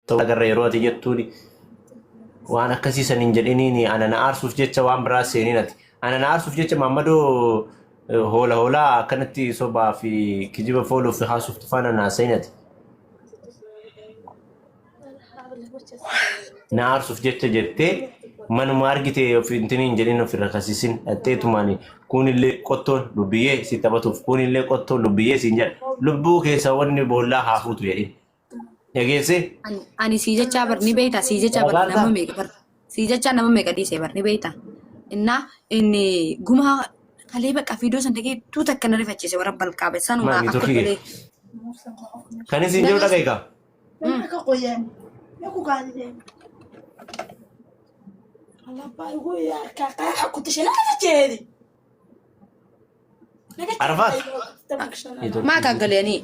ta'uu agarra yeroo ati jettuuni waan akkasii san hin jedhiniini ana na aarsuuf jecha waan biraa seeniin ati ana na aarsuuf jecha maammadoo eh, hoola hoolaa akkanatti sobaa fi kijiba fooluu fi haasuuf tufaana na haasa'in ati na aarsuuf jecha jettee manuma argite of intini hin jedhin of irra kasisin dhaxxeetumaani kuunillee qottoon lubbiyyee si taphatuuf kuunillee qottoon lubbiyyee siin jedha lubbuu keessa wanni boollaa haafuutu jedhin Dhageessee? Ani- Ani sii jechaa bar ni beektaa sii jechaa bar Barbaaddaa? nama meeqa bar sii jechaa nama meeqa dhiisee bar ni beektaa. Innaa inni gumaa kalee bakka fiidoo san dhagee tuu takka na rifachiise warra balqaabe san Maal, uraa ni akka turkii galee. Kan isin jedhu dhaga'i kaa. Arfaat? Maa kan galanii?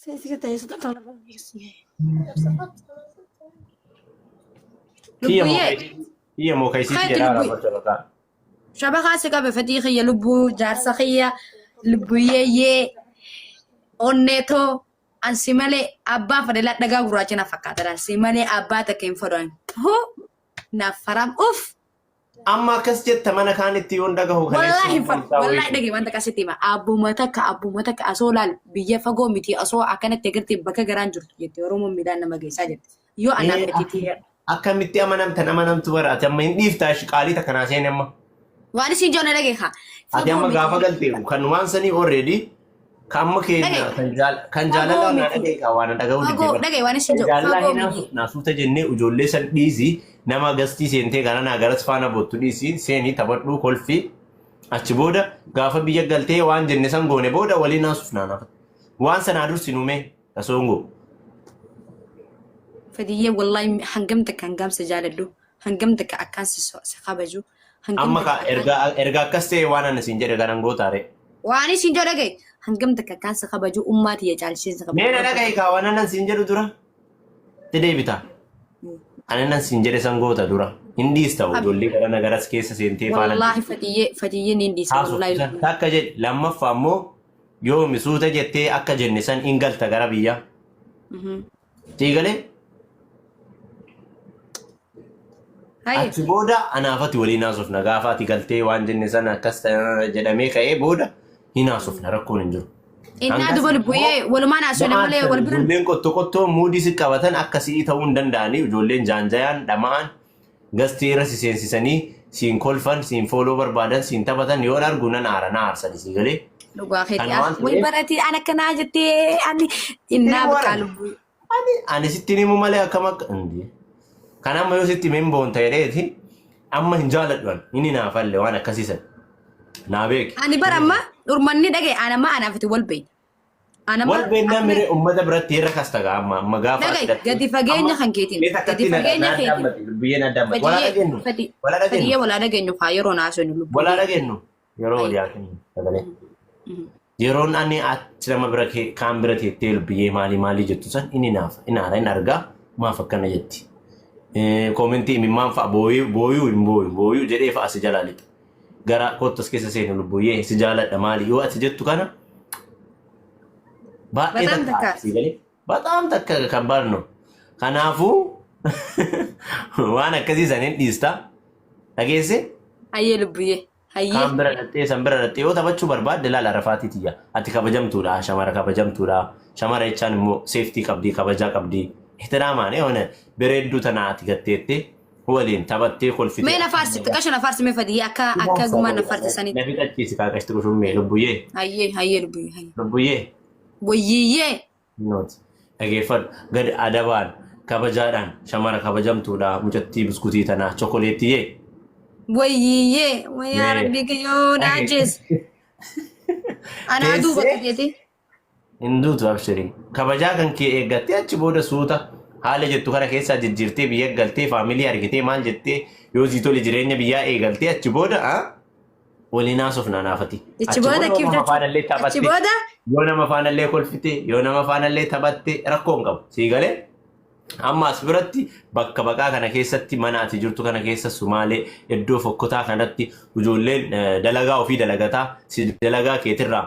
Seesika ta'ee suuta kan lafa geessee. Kiyya moo Lubbuyyee. kayisii- kiyya moo kayisii Kaati jedhaa lubbuy- raafachuu bataa. Shaba kaasi qabe fedhii kiyya lubbuu jaarsa kiyya lubbuyyee yee onnee too ansi malee abbaa fedhe ladhagaa gurraacha na fakkaata ansi malee abbaa takka hin fedhan huu naaf faram uff Amma akkas jetta mana kaanitti yoon dhagahu Wallaahi kaleessa hin far- mul'ataa wallaahi wayii. dhagahi wanta akkasitti hima. Abbuma takka abbuma takka asoo laal biyya fagoo miti asoo akkanatti agartee bakka garaan jirtu jette Oromoon midhaan nama geessaa jette. Yoo anaan Ee, gatii tiyya Akkamitti amanamtan amanamtu bara ati amma hin dhiiftaa ishi qaalii takka naa seene amma. waan isin joona dhageekaa. Ati amma gaafa galteefu kanumaan sanii already Kamma keenya Dhaga'i. kan jaal- kan Fagoo jaalalaa naa miti. dhaga'i kaa waan dhaga'uu Fagoo, didde dhaga'i waan isin Kan jedhu, jaalalaa fagoo hin miti. haasofnaa suuta jennee ijoollee san dhiisi nama gastii seentee gara naa garas faana boottu dhiisi seenii taphadhuu kolfi achi booda gaafa biyya galtee waan jenne san goone booda waliin haasofnaa naaf. Waan sanaa dursi nuumee kasoongoo. Fadiyyee wallaahi hangam takka hangamsa jaaladhu. hangam takka akkaan si so- si kabaju hangam Amma takka ka akkaan erga erga akkas ta'e waan ani siin jedhe kanan gootaare. waan isin jedhu dhaga'i hangam takka akkaan si kabaju ummaa tiyya caalchisee si kabaju Mee na waan dhaga'i kaa waan anan siin jedhu dura. Itti deebita. Ani anan siin jedhe san goota dura. Hin dhiista Abi. ijoollee gara nagaras keessa seentee faana. wallaahi fatiyyee fatiyyee ni dhiisa Haasoftu wallaahi san takka jedhe lammaffaa immoo yoomi suuta jettee akka jenne san hin galta gara biyyaa. Mhm. Sii galee Haye. achi booda anaafati waliin haasofna gaafa ati galtee waan jenne sana akkas ta'e jedhamee ka'ee booda hin haasofna rakkoon hin jiru. Innaa Hangas duba immoo lubbuyee walumaan haasofne Dhama'aan malee kan wal biran. ijoolleen qotto qottoo muudii si qabatan akka si'ii ta'uu hin danda'anii ijoolleen jaanjayaan dhama'aan Gastii irra si seensisanii siin kolfan, siin fooloo barbaadan, siin taphatan yoon argu nan aara, na aarsa dhisii galee. Dhugaa keeti. Kana waan Wal ta'eef- baratii an akkanaa jettee ani innaa Inni biqaa warra- lubbuu. Ani ani sitti himu malee akkam akka Indi. Kan amma yoo sitti himeen boonta jedheeti amma hin jaaladhu ani. Inni naaf halle waan akkasii sana. Naa beeki. Ani bara amma dhurmanni dhaga'e an amma anaaf itti wal beekna. Ana Wal maal- beennaa akkuma- miree uummata biratti irra kasta gaa amma amma gaafa Dhaga'i, hidhattu. gadi fageenya Amma kan keetiin, mee takkatti gadi na- fageenya na keetiin. dhaabbate, biyyeen adda abbate. Walaa dhageenyu. Walaa Fadiyyee dhageenyu. walaa dhageenyu kaa yeroo naasinu lubbuu. Walaa dhageenyu. Yeroo walii haasofnu sagalee. Yeroon ani ati nama bira kee- kaan bira teettee lubbiyee maalii maalii jettu san inni naafa inni haara inni argaa maaf akkana jetti. Eh, Koomentii imimmaan fa'a booyuu booyuu hin booyu booyuu jedhee fa'a si jalaa lixa. garaa kootti as keessa seenu lubbuyyee si jaaladha maali yoo ati jettu kana baay'ee Bataam takka takka. asii galee bataam takka kan barnu kanaafuu waan akkasii san hin dhiista dhageesse Hayyee lubbuyyee. Hayyee. kaan bira dhaxxee san bira dhaxxee yoo taphachuu barbaadde laala rafaatii tiyya ati kabajamtuudha shamara kabajamtuudha shamara jechaan immoo seeftii qabdii kabajaa qabdii ihtiraamaan eewwan bereedduu tanaa ati gatteettee waliin taphattee kolfitee. Mee na faarsi xiqqasho na faarsi mee fadiyee akka akka gumaa na faarsi sanitti. Na fixachiisi kaaqash xiqqoo shummee lubbuyyee. Hayyee hayyee lubbuyyee hayyee. Lubbuyyee. Wayyiyyee. Nooti. Dhageeffadhu. Gad adabaan kabajaadhaan shamara kabajamtuudha mucattii buskutii tanaa chokoleettiyee. Wayyiyyee wayyaa Mee. rabbii kiyyoo na Dhage- ajjees. Anaa duuba Teessee- qajeeti. hin duutu abshirii kabajaa kan kee eeggattee achi booda suuta haala jettu kana keessaa jijjiirtee biyya galtee faamilii argitee maal jettee yoo sii tole jireenya biyyaa eegaltee achi booda ah, waliin haasofnaa naafati Ichi booda yoo kiif nama jechuun. faanallee Ichi taphatte booda yoo nama faanallee kolfite yoo nama faanallee taphatte rakkoo hin qabu sii galee amma as biratti bakka baqaa kana keessatti mana ati jirtu kana keessa sumaalee iddoo fokkotaa kanatti ijoolleen eh, dalagaa ofii dalagataa si dalagaa keetirraa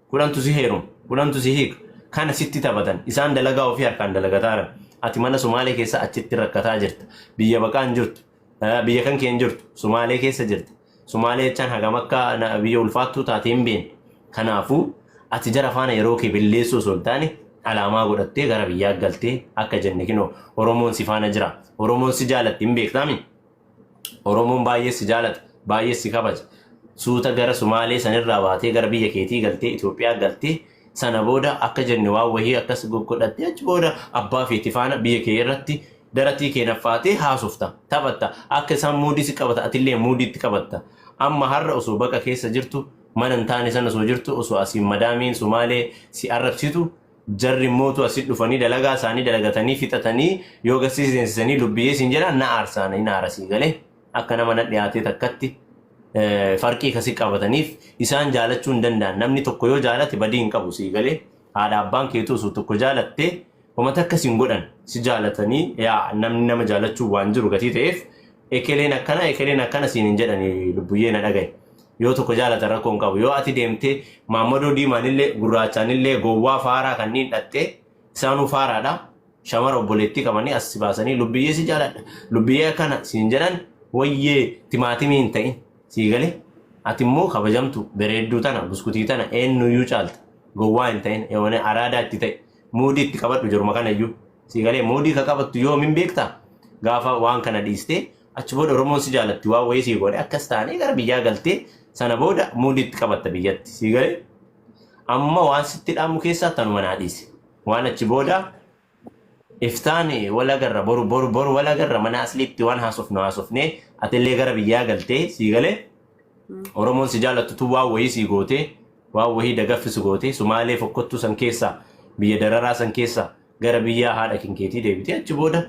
Kudhantu si heeruma, kudhantu si hiika. Kana sitti taphatan. Isaan dalagaa ofii harkaan dalagataaran. Ati mana Somaalee keessa achitti rakkataa jirta. Biyya baqaa hin jirtu. Eh, Biyya kan kee hin jirtu. Somaalee keessa jirta. Somaalee jechaan hagam akka na- biyya ulfaattuu taate hin beekne. Kanaafuu ati jara faana yeroo kee balleessuu osoo hin taane alaamaa godhattee gara biyyaa galtee akka jenne kinoo Oromoon si faana jira. Oromoon si jaalatti hin beektaami. Oromoon baay'ee si jaalata, baay'ee si kabaja. Suuta gara Sumaalee sanirraa baatee gara biyya keetii galtee Itoophiyaa galtee sana booda akka jenne waan wahii akkas goggodhattee achi booda abbaa feeti faana biyya kee irratti daratii kee naffaatee haasofta, taphatta. Akka isaan muudii si qabata atillee muudii itti qabatta. Amma har'a osoo baqa keessa jirtu mana hin taane sana osoo jirtu osoo asiin madaamiin Sumaalee si arrabsitu Jarri mootu asit dhufanii dalagaa isaanii dalagatanii fixatanii yoo gassi si seensisanii lubbiyee siin jedhaan na aarsaa na inaara sii gale akka nama na dhiyaatee takkatti farqii kasi qabataniif isaan jaalachuu hin danda'an namni tokko yoo jaalate badii hin qabu sii gale haadha abbaan keetuu osoo tokko jaalatte homa takka siin godhan si jaalatanii yaa namni nama jaalachuu waan jiru gatii ta'eef ekeleen akkana ekeleen akkana siin hin jedhani lubbuyyee na dhagaye. Yoo tokko jaalatan rakkoo hin qabu. Yoo ati deemtee maammadoo diimaanillee gurraachaanillee gowwaa faaraa kanniin dhaxxee isaanuu faaraadha. Shamara obboleettii qabanii as si baasanii lubbiyyee si jaaladha. Lubbiyyee akkana siin jedhan wayyee timaatimii hin ta'in sii galee. Ati immoo kabajamtu bereedduu tana buskutii tana eenyuyyuu caalta. Gowwaa hin ta'in eewone araadaa itti ta'e muudii itti qabadhu jiruma kanayyuu. Sii galee muudii ka qabattu yoomin beektaa? Gaafa waan kana dhiistee Achi booda Oromoon si jaalatti waan wayii sii godhe akkas taanee gara biyyaa galtee sana booda muudiitti qabatta biyyatti sii galee amma waan sitti dhaamu keessaa tanuma naa dhiise. Waan achi booda iftaan wal agarra boru boru boru wal agarra mana asliitti waan haasofnu haasofnee atillee gara biyyaa galtee sii galee Oromoon si jaallattu tun waan wayii sii gootee waan wayii dagaffi si gootee Sumaalee fokkottuu san keessaa biyya dararaa san keessaa gara biyyaa haadha kinkeetii deebitee achi booda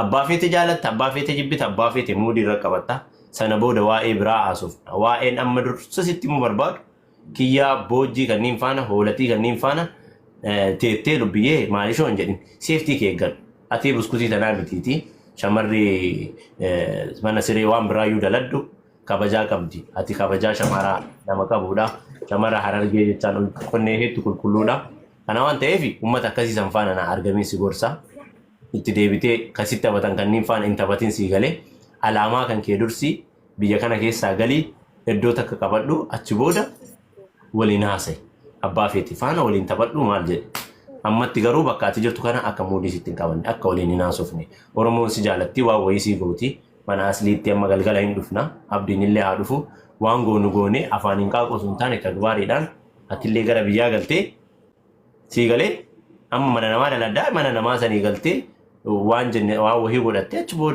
abbaa feete jaalatta abbaa feete jibbita abbaa feete muudii irra qabatta sana booda waa'ee biraa haasofna waa'een amma dursa sitti immoo barbaadu kiyyaa boojjii kanniin faana hoolatii kanniin faana teettee lubbiyyee maalishoo hin jedhin seeftii kee eeggadhu atii buskutii tanaa mitiitii shamarri mana siree waan biraayyuu daladhu kabajaa qabdi ati kabajaa shamaraa nama qabuudha shamara harargee jechaan ol qonnee heetti qulqulluudha kana waan ta'eef ummata akkasii san faana na argamiin si gorsa itti deebitee kan sitti taphatan kanniin faana hin taphatin sii galee alaamaa kan kee dursi biyya kana keessaa galii iddoo takka qabadhu achi booda waliin haasa'e abbaa feeti faana waliin taphadhu maal jedhe ammatti garuu bakka ati jirtu kana akka muudii sitti hin qabanne akka waliin hin haasofne oromoon si jaalatti waan wayii sii gooti Mana asliitti amma galgala hin dhufna. Abdiinillee haa dhufu. Waan goonu goone afaaniin qaaquu osoo hin taane tagbaariidhaan atillee gara biyyaa galtee sii galee amma mana namaa daladdaa mana namaa sanii galtee waan jenne waan wahii godhattee achi booda